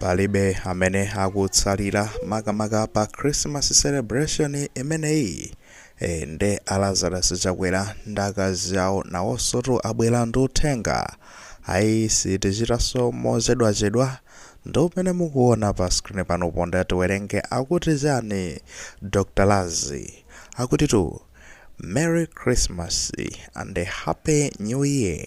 Palibe amene akutsalira makamaka pa Christmas celebration imeneyi ee nde a Lazarus Chakwera ndi akazi awo nawosotu abwera ndi uthenga ayi sitichitaso mozedwazedwa ndi umene mukuona pa screen panopa nde tiwerenge akuti chani Dr Lazi akutitu Merry Christmas and Happy New Year.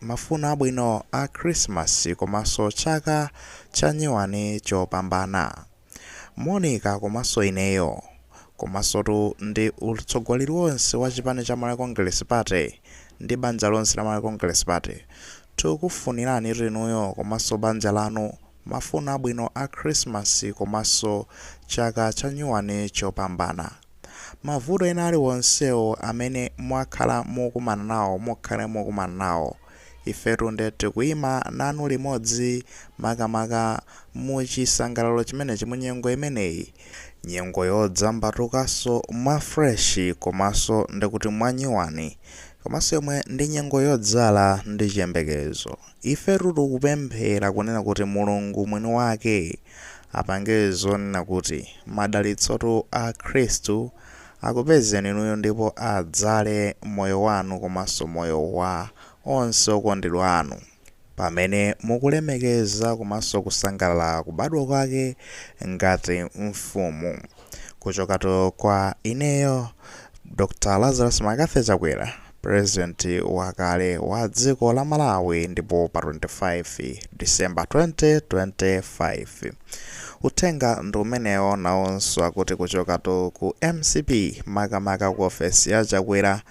Mafuno abwino a Khrisimasi komanso chaka chanyuwani chopambana. Monica komanso ineyo, komansotu ndi utsogoleri wonse wa chipani cha Malawi Congress Party ndi banja lonse la Malawi Congress Party, tikukufuniranitu inuyo komanso banja lanu mafuno abwino a Khrisimasi komanso chaka chanyuwani chopambana. Mavuto ena aliwonsewo amene mwakhala mukumana nawo, mukhale mukumana nawo, ifetu nde tikuima nanu limodzi makamaka muchisangalalo chimenechi, munyengo imeneyi, nyengo yodzambatukaso mwa fresh komaso ndikuti mwanyuwani, komaso yomwe ndi nyengo yodzala ndi chiyembekezo. Ifetu tikupemphera kunena kuti Mulungu mwini wake apange zonena kuti madalitsotu a Khristu akupezeni inuyo ndipo adzale moyo wanu komanso moyo wa onse okondedwa anu pamene mukulemekeza komanso kusangalala kubadwa kwake ngati mfumu. Kuchokatu kwa ineyo Dr Lazarus McCarthy Chakwera president wakale wa dziko la Malawi ndipo pa 25 December 2025 uthenga ndi umenewo nawonso akuti kuchokatu ku mcp makamaka ku ofesi ya Chakwera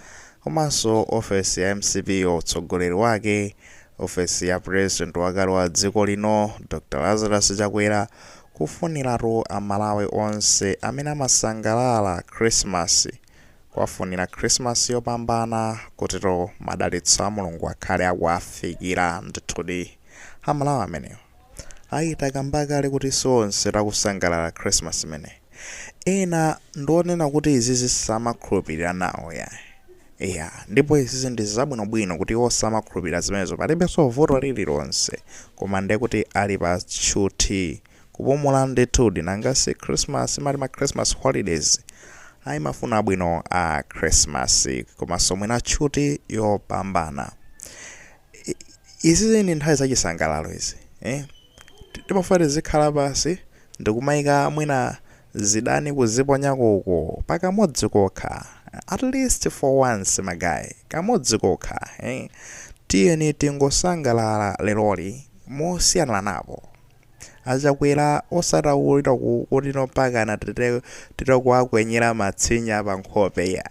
komanso ofesi ya mcp yo utsogoleri wake ofesi ya president wakale wa dziko lino Dr Lazarus Chakwera Kufuniratu a Malawi onse amene amasangalala Christmas kuwafunira Christmas yopambana kutitu madalitso a Mulungu akhale akuwafikira ndithudi a Malawi amenewo. Ayi takamba kale kuti sionse takusangalala Christmas imeneyi. Ena ndi onena kuti izizi samakhulupilira nawo yayi. Eya, ndipo izizi ndi zabwino bwino kuti iwo samakhulupilira zimenezo, palibenso vuto lililonse, koma ndiye kuti ali pa tchuthi, kupumula ndithudi, nanga si Christmas muli ma Christmas holidays, ayi mafuno abwino a Christmas komanso mwina tchuthi yopambana. Izi ndi nthawi zachisangalalo izi eh timafuna tizikhala pansi ndikumaika mwina zidani kuziponyako uko pakamodzi kokha at least for once ma guy kamodzi kokha eh tiyeni tingosangalala leroli mosiyanilanapo. Achakwera osati kuti mpakana titakawakwinyira matsinya pa nkhope iya.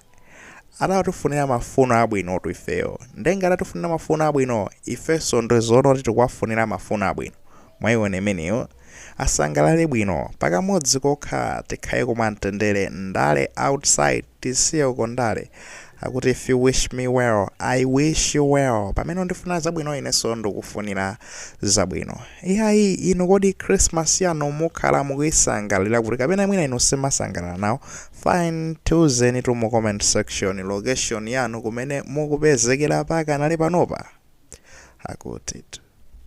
Atatifunira mafuno abwinotu ifeyo. Nde ngati atifunira mafuno abwino, ifenso ndi zoona kuti tikuwafunira mafuno abwino. Mwaiona imeneyo. Asangalale bwino. Pakamodzi kokha tikhale mumtendere ndale outside. tisiye uko ndale akuti if you wish me well i wish you well pamene undifunira zabwino inenso ndikufunira zabwino iyayi inu kodi christmas yanu mukhala mukuisangalira kuti kapena mwina inu simasangalala nawo fine tiuzenitu mu comment section location yanu kumene mukupezekera pakanali panopa akuti tu